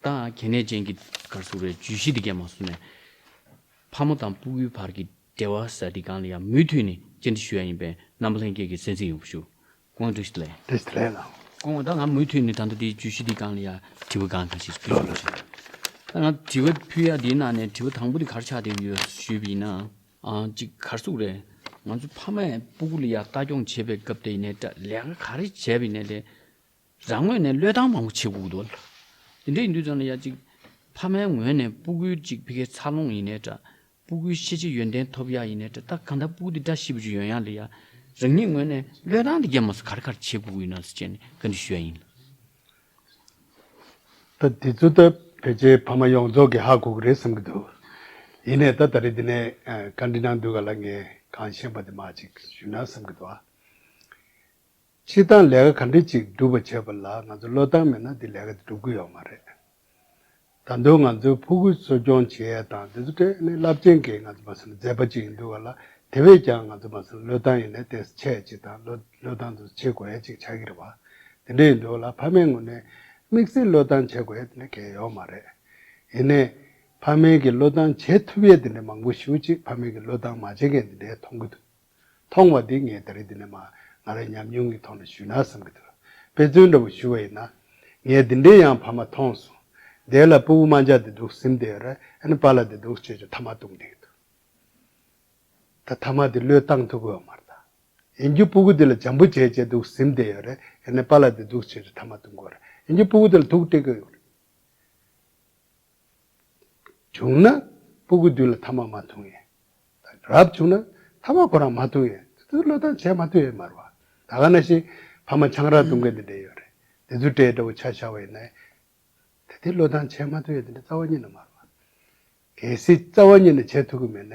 དང་གལ་གནད་ཅན་གྱི་སྐར་ཚུགས་རེར་ཇུས་གཞི་འདི་གས་མ་བསུབ་ནས། ཕག་མོ་དང་སྤུ་གུའི་བར་གྱི་འབྲེལ་བ་ཟ་འདི་གང་ལ་ཡང་མུས་མཐུད་ནས་སྐྱེལ་འདྲི་ཞུ་ཡ་ཡིན་པས་རྣམ་པ་ལྷན་རྒྱས་ཀྱི་གསན་གཟིགས་ཡོང་བར་ཞུ། ཀོང་ཀྲིས་ལེ། ཀྲིས་ལེ་ལགས། ཀོང་བ་ད་ང་མུས་མཐུད་ནས་ད་ལྟ་དེའི་ཇུས་གཞི་འདི་གང་ལ་ཡང་དྲི་བ་གང་གང་ཞིག་ཕུལ་ཞུ་བྱེད། ད་ང་དྲི་བ་ཕུལ་ཡ་དེའི་ནང་ནས་དྲི་བ་དང་པོ་དེ་གར་ཆགས་བསྡད་ཡོད་ཞུས་པ་ཡིན་ན། གཅིག་སྐར་ཚུགས་རེར་ང་ཚོས་ཕ་མས་སྤུ་གུ་ལ་ཡ་ལྟ་སྐྱོང་བྱེད་པའི་སྐབས་དེ་ཡིན་ནས་སྐྲ་ལས་ཀ་ག་རེ་བྱས་པ་ཡིན་ནས་ལས་རང་ངོས་ནས་བློས་བཏང་མང་པོ་བྱེད་དགོས་འདུག་དེ་འདྲ་ཡིན་དུས་ཙམ་ལ་ཡ་གཅིག་ཕ་མའི་ངོས་ནས་སྤུ་གུའི་གཅིག་ཕི་ཁའི་འཚར་ལོངས་ཡིན་ནའི་འདྲ། སྤུ་གུའི་ཤེས་བྱའི་ཡོན་ཏན་ཐོབ་ཡ་ཡིན་ནའི་འདྲ་ད་གང་ལྟར་སྤུ་གུ་དེ་འདྲ་ཤི་བོ་ཅིག་ཡོན་ཡ་ལི་ཡ་རང་ཉིད་ངོས་ནས་བློས་བཏང་དེ་རྒྱ་མོ་སོ་གར་གར་བྱེད་དགོས་ཀྱི་ཡོད་ནང་ཟེར་བྱས་ནས་བཀའ་འདྲི་ཞུ་ཡ་ཡིན། ད་དེ་ཚོ་ད་བོད་རྗེ་ཕ་མ་ཡོངས་རྫོགས་ཀྱི་ཧ་གོ་གི་རེད་བསམ་གྱི་འདུག་ཡིན་ནའི་ད་ད་རེས་འདི་ནས་བཀའ་འདྲི་གནང་དུས་ག་ལ་ངས་གང་ཤེས་པ་དེ་མ་ཅིག་ཞུས་ན་བསམ་གྱི་འདུག་ཨ། སྤྱིར་བཏང་ལས་ཀ་ག་འདྲི་ཅིག་སྒྲུབ་པར་བྱེད་པ་ལ་ང་ཚོ་བློས་བཏང་མེད་ན་དེ་ལས་ཀ་དེ་སྒྲུབ་གི་ཡོད་མ་རེད། ད་དུང་ང་ཚོའི་ཕོ་རྒུད་གསོ་སྐྱོང་བྱེད་ཡས་དང་དེ་ཚོ་ཏྲེ་ནི་རླབས་ཆེན་གྱི་ང་ཚོ་མ་སེམས་མཛད་པ་ཅིག་ཡིན་འདུག་ག་ལ་དེ་བས་ཀྱང་ང་ཚོ་མ་སེམས་བློས་བཏང་ཡིན་ནས་དེ་བྱས་ཅིག་དང་བློས་བློས་བཏང་དེ་ཚོ་བྱེད་དགོས་ཡས་ཅིག་བྱ་གི་རེད་བ། དེ་འདྲ་ཡིན་འདུག་ག་ལ་ཕ་མའི་ངོས་ནས་དམིགས་བསལ་བློས་བཏང་བྱེད་དགོས་ཡས་དེ་འདྲ་གལ་ཡོད་མ་རེད། ཡིན་ནས། ཕ་མའི་གི་བློས་བཏང་བྱེད་ཐུབ་ཡས་དེ་འདྲ་མང་པོ་ཞུ་ཅིག་ཕ་མའི་གི་བློས་བཏང་མ་བྱེད་མཁན་དེ་འདྲས་མཐོང་གི་འདུག་མཐོང་བ་དེ་ངས་ད་རེས་འདི་ནས་མ་ང་རེ་ཉམས་མྱོང་གི་ཐོག་ནས་ཞུས་ན་བསམ་གི་འདུག་དཔེ་མཚོན་འདྲ་བོ་ཞུ་བ་ཡིན་ན། ངས་འདི་འདྲའི་ཡང་བར་མ་མཐོང་སོང། འདས་ལ་སྤུ་བོ་རྨ་འཇག་འདི་འདུག་སིམ་འདས་ར་ཨན་པ་ལ་འདི་འདུག་ཅེས་ཀྱང་ཐ་མ་གཏོང་བསྡད་ཀྱི་འདུག་ད་ཐ་མ་དེ་བློས་བཏང་ཐུབ་གི་འོ་མ་རྟ་ཨིན་རྒྱུ་སྤུ་བོ་འདི་ལ་འཇམ་པོ་བྱས་བྱས་འདུག་སིམ་འདས་ཡོད་ར་ཨན་པ་ལ་འདི་འདུག་ཅེས་ཀྱང་ཐ་མ་གཏོང་གི་འོ་ར་ཨིན་རྒྱུ་སྤུ་བོ་འདི་ལ་དུག་སྤྲད་གི་ཡོད་ར། བྱུང་ན་སྤུ་གུ་བསྡུས་ལ་ཐ་མ་མ་འཐུང་ཡས། རབ་བྱུང་ན་ཐ་མ་གོ་རང་མ་འཐུང་ཡས། དེ་ཚོ་བློས་བཏང་བྱས་མ་ཐུབ་ཡས་མར་བ། ད་ག་ན་ཞིག་ཕ་མ་ཆང་རག་འཐུང་མཁན་དེ་འདྲས་ཡོད་རེད། དེ་ཚོའི་གྲས་འདྲ་བོ་ཆ་བཞག་བ་ཡིན་ན། དེ་དེ་བློས་བཏང་བྱས་མ་ཐུབ་ཡས་དེ་འདྲས་རྩ་བ་ཉིད་ན་མར་བ། གལ་སྲིད་རྩ་བ་ཉིད་ན་བྱས་ཐུབ་གི་མེད་ན།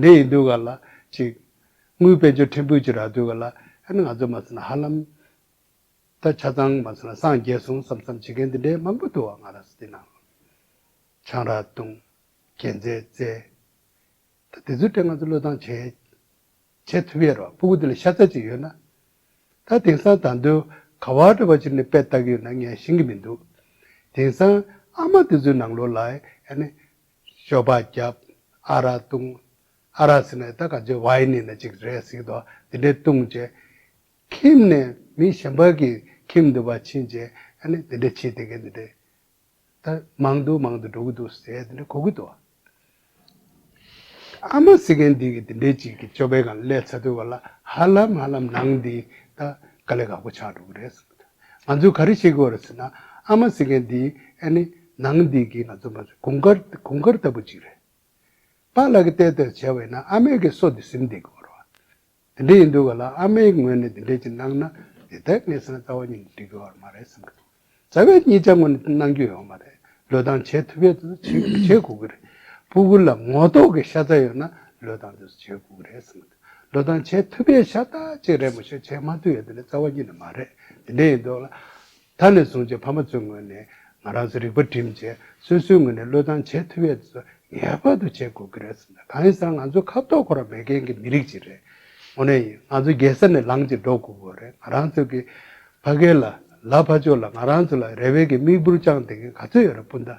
འདི་ཡིན་འདུག་ག་ལ་ཅིག། དངུལ་དཔལ་འབྱོར་ཕྲན་བུ་ཅིག་རག་འདུག་ག་ལ། ཨན་ང་ཚོ་མ་ཟེར་ན་ཧ་ལམ། ད་ཆ་ཚང་མ་ཟེར་ན་སངས་རྒྱས་སོང་བསམ་བསམ་བྱེད་མཁན་འདི་འདྲའི་མང་པོ་འདུག་བ་ང་རང་སུ་དེ་ནང། ཆང་རག་བཏུང། རྒྱན་རྩེད་རྩེ། ད་དེ་ཚོའི་གྲས་ང་ཚོ་བློས་བཏང་བྱས། བྱས་ཐུབ་ཡས་རོགས་སྤུ་གུ་འདི་ལ་ཤ་ཚ་ཅིག་ཡོད་ན། ད་དེང་སང་དང་དུ་ག་བ་འདྲ་བ་ཅིག་ནས་དཔེ་བལྟ་གི་ཡོད་ན་ངས་ཤེས་གི་མི་འདུག་དེང་སང་ཨ་མ་དེ་ཚོའི་ནང་ལོ་ལ་ཨན། ཤོ་བ་རྒྱབ། ཨ་ར་བཏུང། ཨ་ར་ཟེར་ནས་ད་ག་ཇེ་བྷའི་ནི་ནི་ཅིག་རེད་ཟིག་དོ་དེ་འདྲས་བཏུང་རྗེས། ཁྱིམ་ནས་མི་གཞན་པ་གི་ཁྱིམ་དུ་བ་ཕྱིན་རྗེས་ཨ་ནི་དེ་འདྲས་ཕྱིས་དེ་གས་འདི་འདྲས། ད་མང་དུ་མང་དུ་འགྲོ་གི་འདུག་ཟེར་དེ་འདྲས་གོ་གི་འདུག། ཨ་མ་ཟེར་མཁན་འདི་གི་དེ་འདྲས་ཅིག་གི་སྤྱོད་པས་གང་བསླད་ཚ་དུས་བ་ལ་ཧ་ལམ་ཧ་ལམ་ནང་འདི་ད་ག་ལེ་ག་གོ་ཆགས་འགྲོ་གི་རེད་ཟེར། ང་ཚོས་ག་རེ་བྱེད་དགོས་རེད་ཟེར་ན། ཨ་མ་ཟེར་མཁན་འདི་ཨ་ནི་ནང་འདི་གི་ང་ཚོ་མ་ཟད་གོང་དཀར་གོང་དཀར་ལྟ་བུ་ཅིག་རེད། པཱ་ལགས་ཀྱིས་དེ་ལྟར་བྱས་བས་ན་ཨ་མའི་གི་སོ་འདི་ཟིམ་བསྡད་དགོས་རོགས། དེ་འདྲ་ཡིན་འདུག་ག་ལ་ཨ་མའི་ངོས་ནས་དེ་འདྲ་ཅིག་གནང་ན་དེ་ལྟར་ངས་བསམ་རྩ་བ་ཉིད་ནས་འགྲིག་དགོས་བ་མ་རེད་བསམ་གི་འདུག་རྩ་བའི་གཉིས་ཆ་ངོས་ནས་གནང་རྒྱུ་ཡོད་མ་རེད་ལོས་གཏང་བྱེད་ཐུབ་ཡས་དུས་སུ་བྱེད་དགོས་ཀྱི་རེད། སྤུ་གུ་ལ་ངོ་ཐོག་གི་ཤ་ཚ་ཡོད་ན་ལོས་གཏང་དུས་སུ་བྱེད་དགོས་ཀྱི་རེད་བསམ་གི་འདུག། ལོ་ཐང་བྱེད་ཐུབ་པའི་ཤ་སྟག་ཅིག་རེད་མོ་ཞེས་བྱས་མ་ཐུབ་ཡོད་དེ་ནི་རྩ་བ་ཉིད་ནས་མ་རེད་དེ་འདྲའི་ཡིན་འདུག་ལ། ད་ནས་བཟུང་རྗེ་ཕ་མ་ཚོའི་ངོས་ནས་ང་རང་ཚོའི་རིག་པ་འགྲིམ་རྗེས་སོ་སོའི་ངོས་ནས་ལོ་ཐང་བྱེད་ཐུབ་པའི་ཚོད་ངེས་པར་དུ་བྱེད་དགོས་ཀྱི་རེད་བསམ་ན་གང་ཡིན་ཟེར་ན་ང་ཚོའི་ཁ་དོག་འཁོར་བ་མེད་མཁན་གྱི་མི་རིགས་ཅིག་རེད། དངོས་གནས་ཡིན་ང་ཚོ་རྒྱལ་ས་ནས་ལངས་ཀྱི་འགྲོ་དགོས་པོ་རེད་ང་རང་ཚོའི་གི་ཕ་སྐད་ལ་ལ་ཕ་ཆོས་ལ་ང་རང་ཚོ་ལ་རེ་བའི་གི་མིག་འབུར་བཅངས་བསྡད་མཁན་ག་ཚོད་ཡོད་རེད་སྤུན་ཟླ།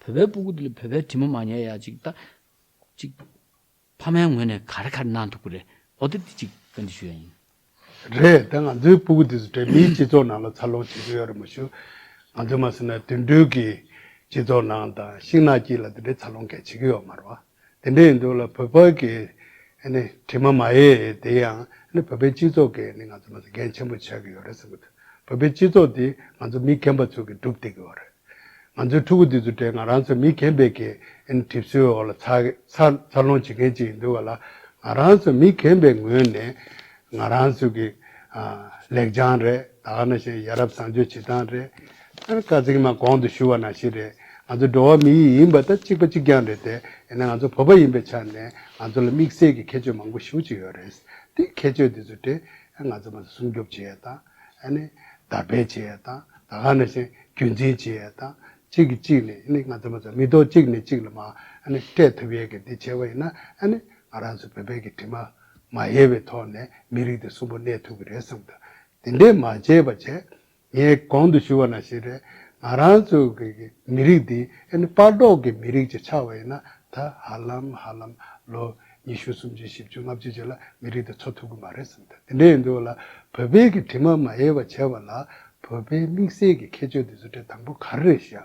བོད་པའི་སྤུ་གུ་འདི་ལ་བོད་པའི་དྲི་མ་མ་ཉལ་ཡ་ཅིག་ད། ཅིག། ཕ་མའི་ངོས་ནས་ག་རེ་ག་རེ་གནང་འདུག་པ་རེད་འོ་དེ་འདི་ཅིག་བཀའ་འདྲི་ཞུ་ཡ་ཡིན། རེད་ད་ང་ཚོའི་སྤུ་གུ་འདི་ཚོ་བོད་མིའི་སྤྱི་ཚོགས་ནང་ལ་འཚར་ལོངས་བྱེད་ཀྱི་ཡོད་རེད་མ་ཞུ། ང་ཚོས་མ་ཟེར་ན་དུད་འགྲོའི་གི་སྤྱི་ཚོགས་ནང་དང་ཤིང་ནགས་སྐྱིད་ལ་འདི་འདྲའི་འཚར་ལོངས་གལ་ཆེ་གི་ཡོད་མ་རེད་བ། དེ་འདྲ་ཡིན་འདུག་ལ་བོད་པ་གི་དྲི་མ་མ་ཡེ་དེ་ཡང་བོད་པའི་སྤྱི་ཚོགས་ཀྱི་ང་ཚོ་མ་ཟད་འགན་ཆེན་པོ་ཆགས་ཀྱི་ཡོད་རེད་བསམ་གྱི་འདུག་བོད་པའི་སྤྱི་ཚོགས་འདི་ང་ཚོ་མི་རྒན་པ་ཚོས་ཀྱི་སྒྲུབ་བསྡད་ཀྱི་ཡོད་རེད། ང་ཚོའི་ཕྲུ་གུ་འདི་ཚོ་དེ་ང་རང་ཚོ་མི་རྒན་པའི་གི་གྲིབ་སོའི་འོག་ལ་འཚར་ལོངས་བྱེད་མཁན་ཅིག་ཡིན་འདུག་ལ་ང་རང་ཚོ་མི་རྒན་པའི་ངོས་ནས་ང་རང་ཚོ་གི་ལེགས་བྱང་རེད་ད་ནང་བཞིན་ཡ་རབས་བཟང་སྤྱོད་བྱེད་སྟངས་རེད། ཨ་རི་ཀ་ཚིག་མ་གོང་དུ་ཞུ་བ་ནང་བཞིན་རེད་ང་ཚོ་འགྲོ་བ་མི་ཡིས་ཡིན་པ་ད་གཅིག་པ་གཅིག་རྐྱང་རེད་དེ་ཡིན་ན་ང་ཚོ་བོད་པ་ཡིན་པའི་ཆ་ནས་ང་ཚོ་ལ་དམིགས་བསལ་གྱི་ཁྱད་ཆོས་མང་པོ་ཞུ་བྱེད་ཡོད་རེད་དེ་ཁྱད་ཆོས་དེ་ཚོ་དེ་ང་ཚོ་མ་ཟད་སྲུང་སྐྱོབ་བྱེད་ཡས་དང་ཨ་ནི་དར་སྤེལ་བྱེད་ཡས་དང་ད་ག་ནང་བཞིན་རྒྱུན་འཛིན་བྱེད་ཡས་དང་གཅིག་གིས་གཅིག་ནས་ཨ་ནི་ང་ཚོ་མ་ཟད་མི་ཐོག་གཅིག་ནས་གཅིག་ལ་མ་ཨ་ནི་སྤྲད་ཐུབ་ཡས་གི་དེ་བྱེད་པ་ཡིན་ན་ཨ་ནི་ང་རང་ཚོ་བོད་པའི་གི་དྲི་མ། མ་ཡལ་བའི་ཐོག་ནས་མི་རིགས་དེ་གསོན་པོ་གནས་ཐུབ་ཀྱི་རེད་བསམ་ཐུབ། དེ་འདྲས་མ་བྱས་པ་བྱས། ངས་གོང་དུ་ཞུས་བ་ན་ཞེས་རེད། ང་རང་ཚོ་གི་མི་རིགས་འདི་ཨ་ནི་པགས་མདོག་གི་མི་རིགས་ཅིག་ཆགས་བ་ཡིན་ན་ད་ཧ་ལམ་ཧ་ལམ་ལོ་ཉི་ཤུ་སུམ་ཅུ་བཞི་བཅུ་ལྔ་བཅུ་བཅས་ལ་མི་རིགས་དེ་འཚོ་ཐུབ་ཀྱི་མ་རེད་བསམ་ཐུབ་དེ་འདྲས་ཡིན་དུས་ལ་བོད་པའི་གི་དྲི་མ་མ་ཡལ་བ་བྱས་བ་ལ་བོད་པའི་དམིགས་བསལ་གྱི་ཁྱད་ཆོས་དེ་ཚོ་དྲན་དང་པོ་ག་རེ་རེད་བཤད་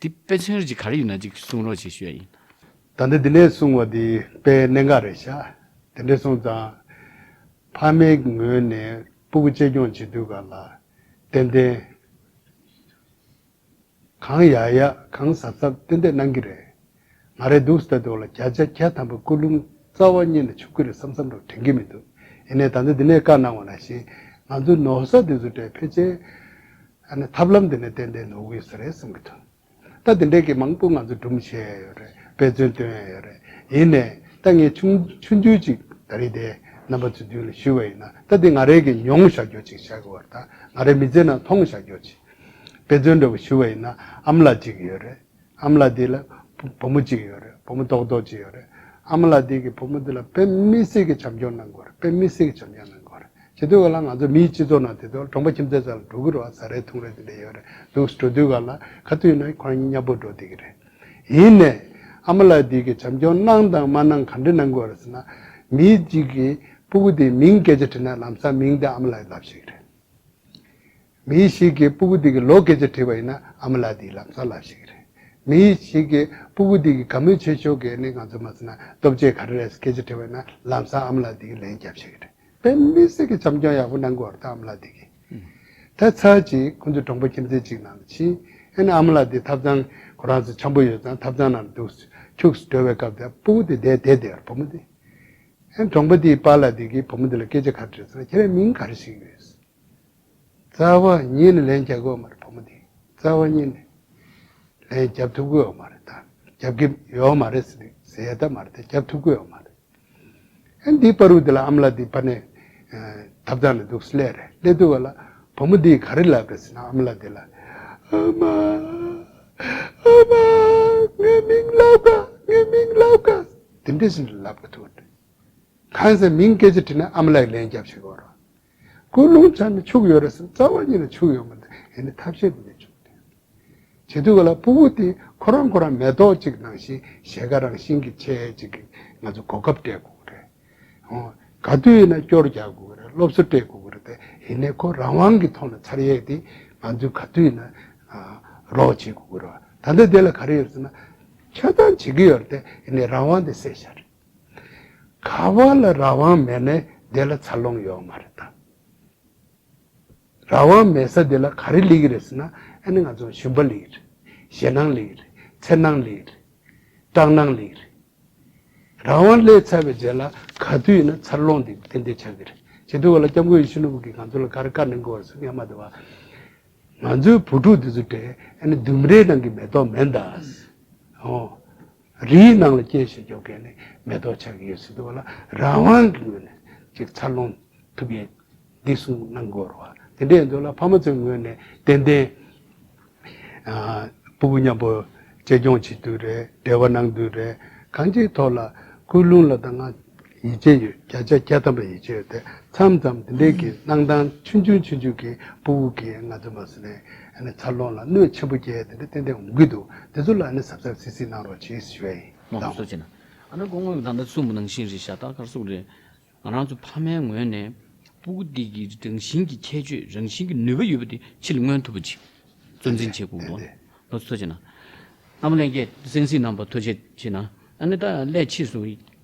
དེ་དཔེ་མཚོན་རེ་གཅིག་ག་རེ་ཡོད་ན་གཅིག་གསུང་རོགས་བྱེད་ཞོས་ཡིན། ད་ནི་དེ་ནས་གསུང་བ་དེ་དཔེ་གནད་འགག་རེ་བཞག་དེ་འདྲས་སོང་ཙང། ཕ་མའི་ངོས་ནས་སྤུ་གུ་གཅེས་སྐྱོང་བྱེད་དུས་ག་ལ་ཏན་ཏན། གང་ཡག་ཡག་གང་ཟབ་ཟབ་ཏན་ཏན་གནང་གི་རེད། ང་རེ་འདུག་སྟེ་འདུག་ལ་བརྒྱ་ཆ་བརྒྱ་ཐམ་པ་སྐུ་ལུང་རྩ་བ་རྙེད་ནས་ཆུབ་ཀྱི་རེད་བསམ་བསམ་རུང་དྲན་གྱི་མི་འདུག་ཡིན་ནའི་ད་ལྟ་འདི་ནས་བཀའ་གནང་བ་ལ་བཞིན་ང་ཚོའི་ནོར་ས་དེ་ཚོ་གྲས་ཕལ་ཆེར་ཐབས་ལམ་འདི་ནས་ཏན་ཏན་ནོར་གི་ཡོད་ས་རེད་བསམ་གྱི་འདུག་ད་དེ་འདྲས་ཀྱི་མང་པོ་ང་ཚོས་སྒྲུབ་མི་ཤེས་ཡས་ཡོད་རེད་དཔེ་མཚོན་སྟོན་ཡས་ཡོད་རེད་ཡིན་ནའི་ད་ངས་ཆུང་ཆུང་ཆུང་ཅིག་ད་རིས་དེ་རྣམ་པ་ཚོའི་མདུན་ལ་ཞུས་བ་ཡིན་ན་ད་འདི་ང་རེ་གི་མྱོང་བཞག་རྒྱོ་ཅིག་བཞག་གི་བར་ད་ང་རེ་མི་ཚེ་ནང་མཐོང་བཞག་རྒྱོ་ཅིག་དཔེ་མཚོན་འདྲ་བོ་ཞུས་བ་ཡིན་ན་ཨམ་ལགས་ཅིག་ཡོད་རེད། ཨ་མ་ལ་དེ་ལ་བུ་མོ་གཅིག་ཡོད་རེད་བུ་མོ་རྡོག་རྡོག་གཅིག་ཡོད་རེད་ཨ་མ་ལ་དེ་གི་བུ་མོ་དེ་ལ་བོད་མི་སེར་གི་བྱམས་སྐྱོང་གནང་དགོས་རེད་བོད་མི་སེར་གི་བྱམས་སྐྱོང་གནང་དགོས་རེད་བྱེད་དུས་ག་ལ་ང་ཚོ་མིའི་སྤྱི་ཚོགས་ནང་དེ་དུས་གྲོང་པ་ཁྱིམ་ཚད་ཙམ་ལ་འགྲོ་གི་རོ་བཟའ་རེད་འཐུང་རེད་དེ་འདྲ་ཡོད་རེད་འདུག་འགྲོ་དུས་ག་ལ་ག་དུས་ན་ཁོ་རང་གཉིས་མཉམ་པོར་འགྲོ་དེ་གི་རེད་ཡིན་ནས་ཨ་མ་ལ་དེ་གི་བྱམས་སྐྱོང་གནང་དང་མ་གནང་ག་འདྲི་གནང་དགོས་རེད་ཟེར་ན་མི་གཅིག་གི་སྤུ་གུ་དེ་མིང་སྐད་ཆ་དྲིས་ན་ལམ་སང་མིང་དེ་ཨ་མ་ལ་ལབ་ཤེས་གི་རེད། མི་ཞིག་གིས་སྤུ་གུ་འདི་གི་ལོ་སྐད་ཆ་དྲིས་པ་ཡིན་ན་ཨ་མ་ལགས་འདི་ལམ་གསར་ལབ་ཞིག་རེད། མི་ཞིག་གིས་སྤུ་གུ་འདི་གི་ག་མོས་ཆེ་ཤོག་གི་ནི་ང་ཚོས་མ་ཟེར་ན་སྟོབས་ཆེ་ག་རེ་རེད་སྐད་ཆ་དྲིས་པ་ཡིན་ན་ལམ་གསར་ཨ་མ་ལགས་འདི་གི་ལན་རྒྱབ་ཞིག་རེད། དཔེ་མི་སྲིད་གི་བྱམས་སྐྱོང་ཡག་པོ་གནང་དགོས་རེད་ཨ་མ་ལགས་འདི་གི། ད་ཚར་གྱིས་ཁོ་ཚོས་གྲོང་པ་ཁྱིམ་མཚེས་གཅིག་ནང་ལ་ཕྱིན་ཨེ་ན་ཨ་མ་ལགས་འདི་ཐབ་ཚང་ཁོ་རང་ཚོ་འཁྱམ་པོ་ཡོད་ཙང་ཐབ་ཚང་ནང་ལ་འདུག་ཁྱུགས་སུ་འགྲོ་བའི་སྐབས་དེ་སྤུ་གུ་འདི་བསྡད་དེ་བསྡད་ཡོད་བུ་མོ་འདི་ཨེ་ན་གྲོང་པ་འདིའི་པཱ་ལགས་འདི་གིས་བུ་མོ་འདི་ལ་སྐད་ཆ་ག་རེ་དྲིས་སོང་ཁྱེད་རའི་མིང་ག་རེ་ཞིག་ཡོད། རྩ་བ་ཉིད་ནས་ལན་རྒྱག་གོ་མ་རེད་བུ་མོ་འདི་རྩ་བ་ཉིད་ནས་ལན་རྒྱབ་ཐུབ་གོ་མ་རེད་ད་རྒྱབ་གི་ཡོད་མ་རེད་ཟེ་ད་མ་རེད་ད་རྒྱབ་ཐུབ་གོ་མ་རེད་ཨེ་འདི་པར་བུ་འདི་ལ་ཨམ་ལ་འདི་པར་ནས་ཐབ་ཐང་ནས་འདུག་སླད་རེད་སླད་དུ་བ་ལ་བུ་མོ་འདིས་ག་རེ་ལབ་རེད་ཟེ་ན་ཨམ་ལ་འདི་ལ་ཨ་མ་ཨ་མ་ངའི་མིང་ལབ་ག་ངའི་མིང་ལབ་ག་དེ་འདྲས་ཟིན་ལབ་ག་ཐུབ་རེད་གང་ཟེ་མིང་སྐད་ཆ་དྲིས་ན་ཨམ་ལ་ཡི་ལན་རྒྱབ་བྱེད་གོ་རོ། ཀུན་སློང་ཆ་ནས་ཕྱུག་ཡོད་རེད་སེམས་རྩ་བ་ཉིད་ལ་ཕྱུག་ཡོད་མ་འདུག་ཡིན་ནའི་ཐབས་ཤེས་དེ་ནས་བྱུང་དོན། བྱེད་དུས་ག་ལ་སྤུ་བོ་དེས་ཁོ་རང་ཁོ་རང་མེ་ཏོག་ཅིག་ནང་བཞིན་ཞལ་ཁ་རང་བཞིན་གྱིས་འཁྱལ་ཅིག་གིས་ང་ཚོ་གོ་སྐབས་སྤྲད་དགོས་ཀྱི་རེད། ཧོན། ག་དུས་ཡིན་ན་སྐྱོར་རྒྱག་དགོས་ཀྱི་རེད་སློབ་གསོ་སྤྲད་དགོས་ཀྱི་རེད་དེ་ཡིན་ནའི་ཁོ་རང་དབང་གི་ཐོག་ནས་ཚར་ཡས་དེ་ང་ཚོས་ག་དུས་ཡིན་ན་རོགས་བྱེད་དགོས་ཀྱི་རེད། ད་ལྟ་དེ་ལ་ག་རེ་ཡོད་རེད་ཟེར་ན། འཁྱོལ་སྟངས་བྱེད་ཀྱི་ཡོད་རེད་དེ་ཡིན་ནའི་རང་དབང་དེ་བསྲེགས་བཞག་རེད། ག་བ་ལ་ར་བང་མེད་ནས་དེ་ལ་ཚར་ལོང་ཡོག་མ་རེ་ད། ར་བང་མེད་ས་དེ་ལ་ག་རེ་ལིག་རེ་ཟེར་ན་ཨེ་ནི་ང་ཚོ་ཞུན་པ་ལིག་རེ། ཞེ་སྣང་ལིག་རེ། འཚེར་སྣང་ལིག་རེ། སྐྲག་སྣང་ལིག་རེ། ར་བང་ལས་ཚར་བའི་རྗེས་ལ་ག་དུས་ཡིན་ན་ཚར་ལོང་དེ་ཏན་ཏན་ཆགས་ཀྱི་རེད། བྱེས་དུས་བ་ལ་སྐྱབས་མགོན་ཡེ་ཤུ་ནོར་བུ་གིས་ང་ཚོ་ལ་ག་རེ་བཀའ་ནན་གོ་བ་རེ་ཟེར་སྔས་མ་དེ་བ། ང་ཚོའི་བུ་ཕྲུག་དེ་ཚོ་དེ་ཨེ་ནི་ལྡུམ་རའི་ནང་གི་མེ་ཏོག་མེད་ད། རིའི་ནང་ལ་རྐྱེན་ཞིག་འཇོག་མཁན་ནི་མེ་ཏོག་ཆགས་ཀྱི་ཡོད་སྲིད་འདུག་ལ་རང་དབང་གི་ངོས་ནས་ཅིག་འཚར་ལོངས་ཐུབ་ཡས་འདི་གསུངས་གནང་དགོས་རུང་བ་དེ་འདྲས་འདུག་ལ་ཕ་མ་ཚོའི་ངོས་ནས་ཏན་ཏན་བུ་བུ་མཉམ་པོ་གཅེས་སྐྱོང་བྱེད་དུས་རེད་འབྲེལ་བ་གནང་དུས་རེད་གང་ཅིའི་ཐོག་ལ་སྐུལ་སློང་ལ་ད་སྔ་ཡིད་ཆེས་ཡོད་བརྒྱ་ཆ་བརྒྱ་ཐམ་པ་ཡིད་ཆེས་ཡོད་དེ་མཚམས་མཚམས་དེ་འདྲའི་གི་གནང་སྟངས་ཆུང་ཆུང་ཆུང་ཆུང་གི་པུ་བུ་གི་ང་ཚོ་མ་སི་ནས་ནས་འཚར་ལོངས་ལ་གནོད་ཆེན་པོ་རྒྱས་དེ་འདྲ་ཏན་ཏན་འོང་གི་འདུག་དེ་ཚོ་ལ་ནས་ཟབ་ཟབ་སིག་སིག་གནང་རོགས་གྱིས་ཞུ་བས་ཡིན། མ་ཧོ་སོ་ཅན། ཨ་ན་ཀོ་ངོས་ད་ལྟ་ཚུར་མ་ནང་བཞིན་རེད་ཤ་སྟག་དཀར་གསུག་རེད། ང་རང་ཚོ་ཕ་མའི་ངོས་ནས་པུ་གུ་དེ་གི་རང་བཞིན་གྱི་ཁྱད་ཆོས་རང་བཞིན་གྱི་ནུས་པ་ཡོད་པ་དེ་ཕྱི་ལ་མངོན་ཐུབ་པ་ཅིག་གཙོ་འཛིན་བྱེད་དགོས་འདུག་ཨ་ན་ཀོ་སོ་ཅན། ཨ་མ་ལན་ཀེ་སེང་སིག་རྣམ་པ་ཐོ་ཆེ་ཆེ་ན་ཨ་ན་ད་ལས་ཕྱིས་སུ